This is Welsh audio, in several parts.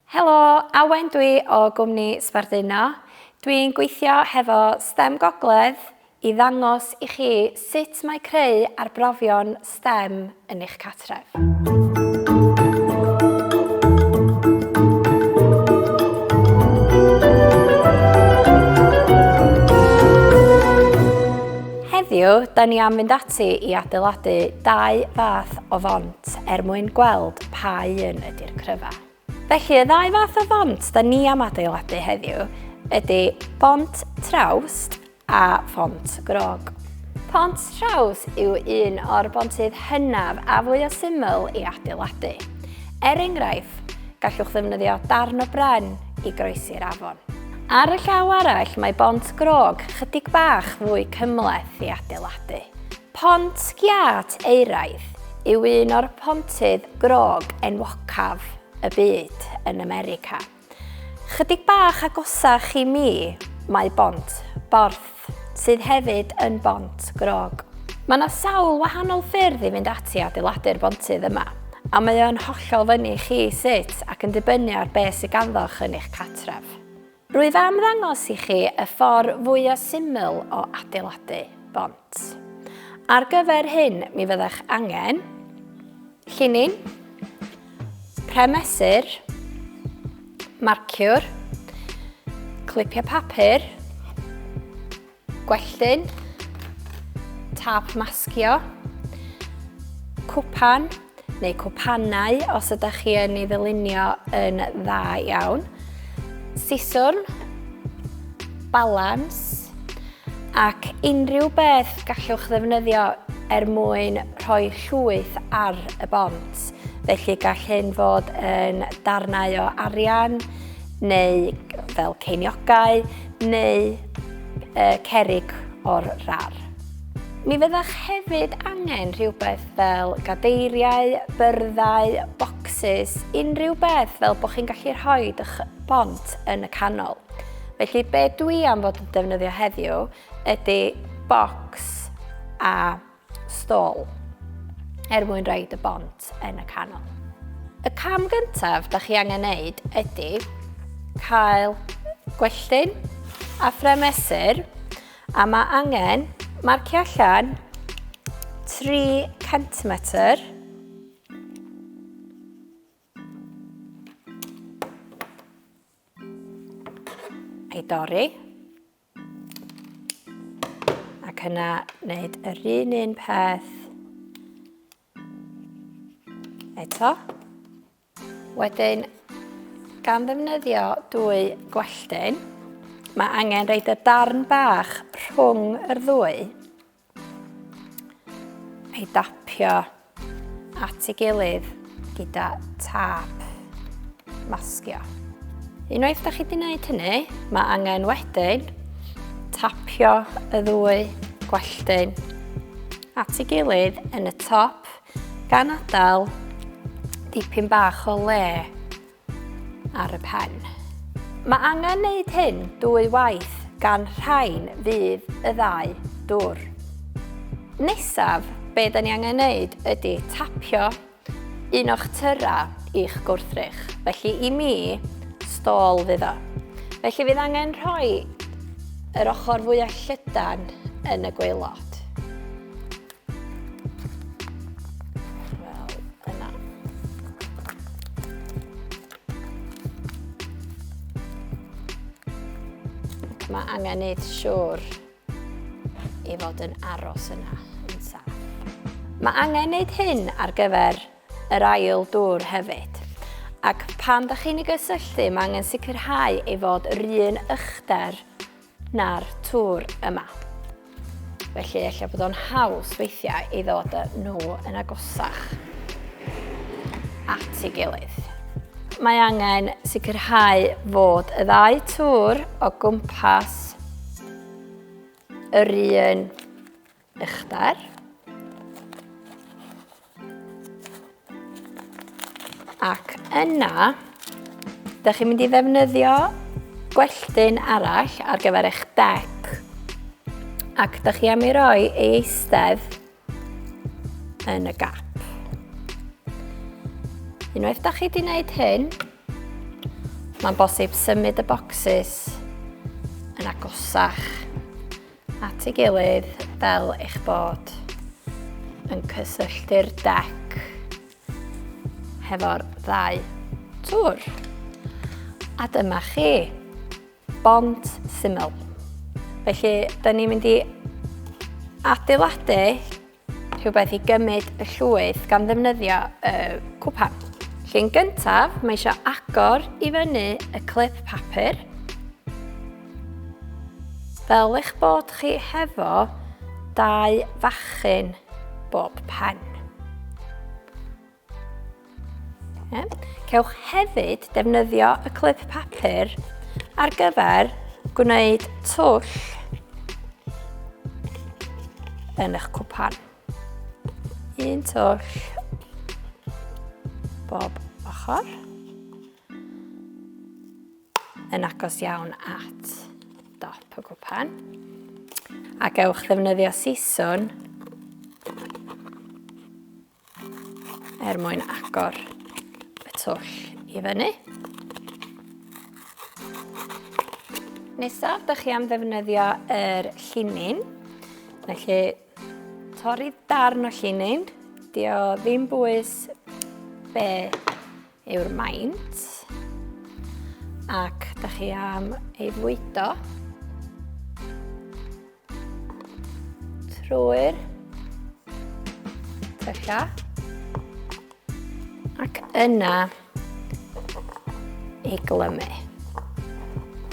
Helo, Awen dwi o gwmni Sbarduno. Dwi'n gweithio hefo stem Gogledd i ddangos i chi sut mae creu arbrofion stem yn eich cartref. Heddiw, da ni am fynd ati i adeiladu dau fath o font er mwyn gweld pa un ydy'r cryfa. Felly y ddau fath o font da ni am adeiladu heddiw ydy bont trawst a phont grog. Pont traws yw un o'r bontydd hynaf a fwy o syml i adeiladu. Er enghraifft, gallwch ddefnyddio darn o bren i groesi'r afon. Ar y llaw arall, mae bont grog chydig bach fwy cymleth i adeiladu. Pont Giât Euraidd yw un o'r pontydd grog enwocaf y byd yn America. Chydig bach agosach i mi mae Bont Borth, sydd hefyd yn bont grog. Mae yna sawl wahanol ffyrdd i fynd ati adeiladu'r bontydd yma, a mae o'n hollol fyny chi sut ac yn dibynnu ar beth sydd ganddoch yn eich catref. Rwyf am ddangos i chi y ffordd fwya syml o adeiladu bont. Ar gyfer hyn mi fyddech angen llinyn, premesur, marciwr, clipiau papur, Gwelltyn, tap masgio, cwpan neu cwpanau os ydych chi yn ei ddylunio yn dda iawn, siswrn, balans ac unrhyw beth gallwch ddefnyddio er mwyn rhoi llwyth ar y bont. Felly gall hyn fod yn darnau o arian neu fel ceiniogau neu y cerrig o'r rar. Mi fyddech hefyd angen rhywbeth fel gadeiriau, byrddau, bocsys, unrhyw beth fel bod chi'n gallu rhoi eich bont yn y canol. Felly be dwi am fod yn defnyddio heddiw ydy bocs a stôl er mwyn roed y bont yn y canol. Y cam gyntaf da chi angen neud ydy cael gwelltyn a ffrem mesur a mae angen marcio allan 3 cm ei dorri Ac yna wneud yr un un peth eto. Wedyn, gan ddefnyddio dwy gwelltyn, mae angen reid y darn bach rhwng yr ddwy Ei dapio at ei gilydd gyda tap masgio. Unwaith da chi wedi gwneud hynny, mae angen wedyn tapio y ddwy gwelltyn at ei gilydd yn y top gan adael dipyn bach o le ar y pen. Mae angen wneud hyn dwy waith gan rhain fydd y ddau dwr. Nesaf, be da ni angen wneud ydy tapio un o'ch tyra i'ch gwrthrych. Felly i mi, stôl fydd o. Felly fydd angen rhoi yr ochr fwyaf llydan yn y gweilod. Mae angen neud siwr i fod yn aros yna yn saff. Mae angen neud hyn ar gyfer yr ail dŵr hefyd. Ac pan da chi'n ei gysylltu, mae angen sicrhau ei fod yr un ychder na'r tŵr yma. Felly efallai bod o'n haws weithiau i ddod â nhw yn agosach at ei gilydd. Mae angen sicrhau fod y ddau tŵr o gwmpas yr un uchder. Ac yna, da chi'n mynd i ddefnyddio gwelltyn arall ar gyfer eich dec. Ac da chi am i roi ei eistedd yn y gap. Unwaith da chi wedi gwneud hyn, mae'n bosib symud y bocsys yn agosach at ei gilydd fel eich bod yn cysylltu'r dec hefo'r ddau tŵr. A dyma chi, bont syml. Felly, da ni'n mynd i adeiladu Rhywbeth i gymryd y llwyth gan ddefnyddio y cwpan. Llun gyntaf, mae eisiau agor i fyny y clip papur. Fel eich bod chi hefo dau fachyn bob pen. Cewch hefyd defnyddio y clip papur ar gyfer gwneud twll yn eich cwpan. Un twll bob ochr yn agos iawn at dop y cwpan a gewch ddefnyddio siswn er mwyn agor y twll i fyny. Nesaf, da chi am ddefnyddio yr llinyn. Felly, torri darn o llinyn. Di o ddim bwys be yw'r maint. Ac da chi am ei fwydo. Trwy'r tyllau. Ac yna ei glymu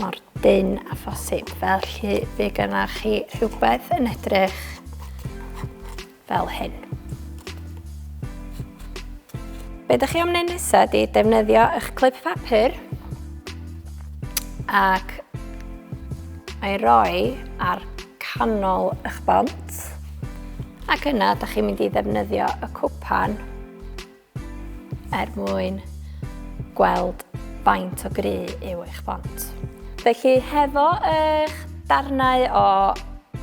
mor dyn a phosib. Felly fe gynnwch chi rhywbeth yn edrych fel hyn. Be ydych chi am wneud nesaf ydy defnyddio eich clip papur ac ei roi ar canol eich bont ac yna ydych chi'n mynd i ddefnyddio y cwpan er mwyn gweld faint o gry yw eich bont. Felly hefo eich darnau o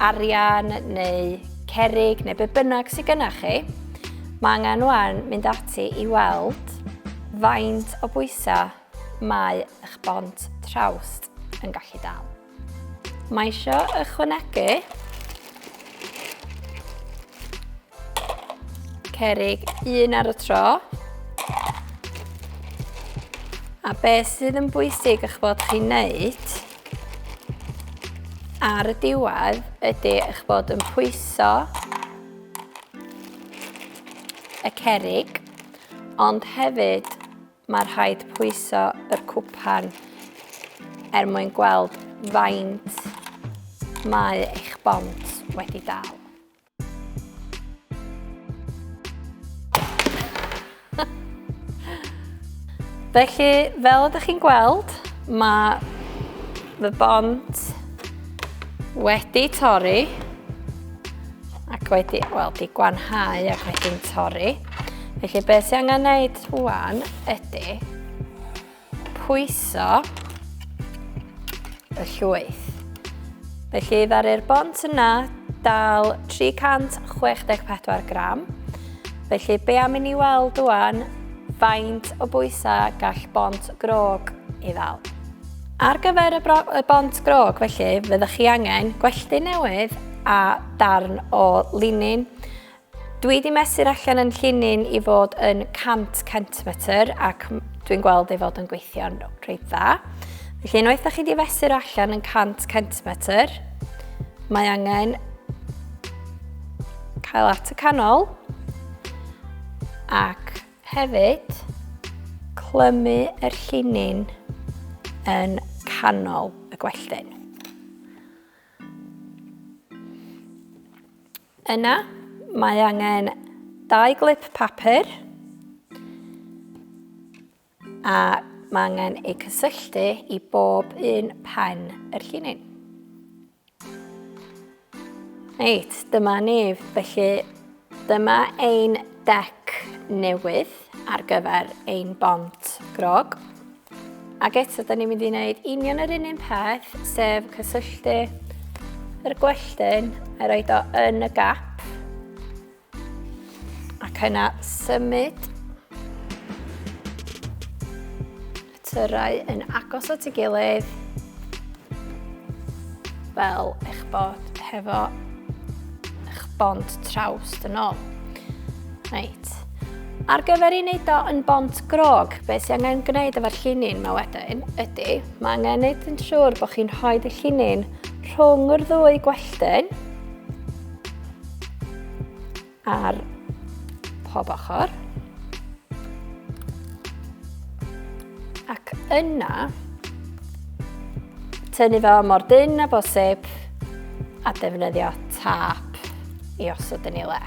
arian neu cerig neu be bynnag sydd gyda chi, mae angen wan mynd ati i weld faint o bwysau mae eich bont trawst yn gallu dal. Mae isio ychwanegu cerig un ar y tro. A beth sydd yn bwysig eich bod chi'n neud ar y diwedd ydy eich bod yn pwyso y cerig, ond hefyd Mae rhaid pwyso yr cwpan er mwyn gweld faint mae eich bont wedi dal. Felly, fel ydych chi'n gweld, mae Mae bont wedi torri ac wedi, wel, di gwanhau ac wedi'n torri. Felly beth sy'n angen wneud rwan ydy pwyso y llwyth. Felly ddaru'r bont yna dal 364 gram. Felly be am i ni weld rwan faint o bwysau gall bont grog i ddal. Ar gyfer y, bro, y bont grog felly, fyddwch chi angen gwelltu newydd a darn o linin. Dwi wedi mesur allan yn llinyn i fod yn 100 centimetr ac dwi'n gweld ei fod yn gweithio'n rhaid dda. Felly unwaith da chi wedi fesur allan yn 100 centimetr, mae angen cael at y canol ac Hefyd, clymu yr llinyn yn canol y gwelltyn. Yna, mae angen dau glip papur a mae angen eu cysylltu i bob un pen yr llinyn. Reit, dyma nef. Felly, dyma ein dec newydd ar gyfer ein bont grog. Ac eto, da ni'n mynd i wneud union yr un un peth, sef cysylltu yr gwelltyn a roi o yn y gap. Ac yna symud y tyrau yn agos at ei gilydd fel eich bod hefo eich bont traws yn ôl. Reit. Ar gyfer i wneud o yn bont grog, beth sy'n angen gwneud efo'r llinyn mae wedyn ydy, mae angen gwneud yn siŵr bod chi'n rhoi y llinyn rhwng yr ddwy gwelltyn. Ar pob ochr. Ac yna, tynnu fo mor dyn a bosib a defnyddio tap i osod yn ei le.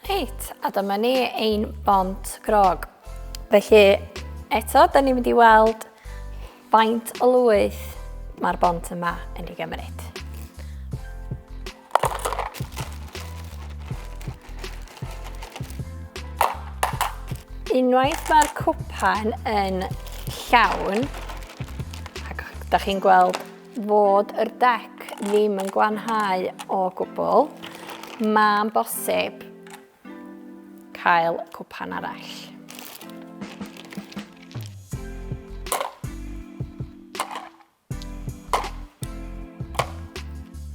Reit, a dyma ni ein bont grog. Felly, eto, da ni'n mynd i weld faint o lwyth mae'r bont yma yn ei gymryd. Unwaith mae'r cwpan yn llawn, ac da chi'n gweld fod yr dec ddim yn glanhau o gwbl, mae'n bosib cael cwpan arall.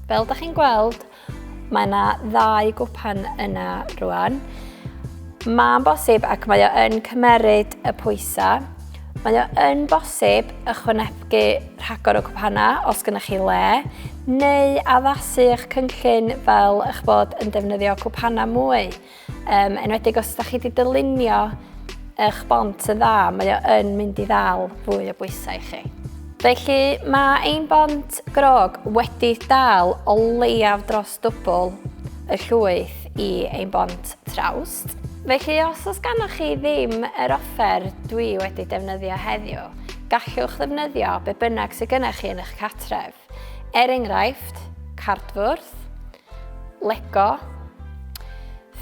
Fel da chi'n gweld, Mae yna ddau gwpan yna rwan. Mae'n bosib ac mae o yn cymeryd y pwysau. Mae o yn bosib ychwanegu rhagor o gwpana os gynnwch chi le, neu addasu eich cynllun fel eich bod yn defnyddio cwpana mwy. Um, enwedig os ydych chi wedi dylunio eich bont yn dda, mae o yn mynd i ddal fwy o bwysau i chi. Felly mae ein bont grog wedi dal o leiaf dros dwbl y llwyth i ein bont trawst. Felly os oes gannoch chi ddim yr offer dwi wedi defnyddio heddiw, gallwch ddefnyddio be bynnag sydd gennych chi yn eich catref. Er enghraifft, cardfwrdd, Lego,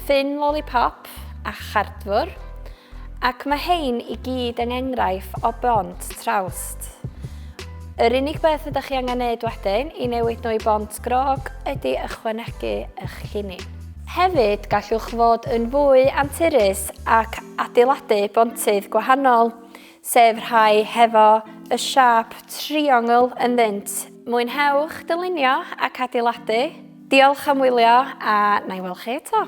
ffyn lollipop a chardfwr, ac mae hein i gyd yng engraif o bont trawst. Yr unig beth ydych chi angen neud wedyn i newid nhw i bont grog ydy ychwanegu eich llinyn. Hefyd, gallwch fod yn fwy anturus ac adeiladu bontydd gwahanol, sef rhai hefo y siâp triongl ynddynt. Mwynhewch dylunio ac adeiladu! Diolch am wylio a na i weld chi eto!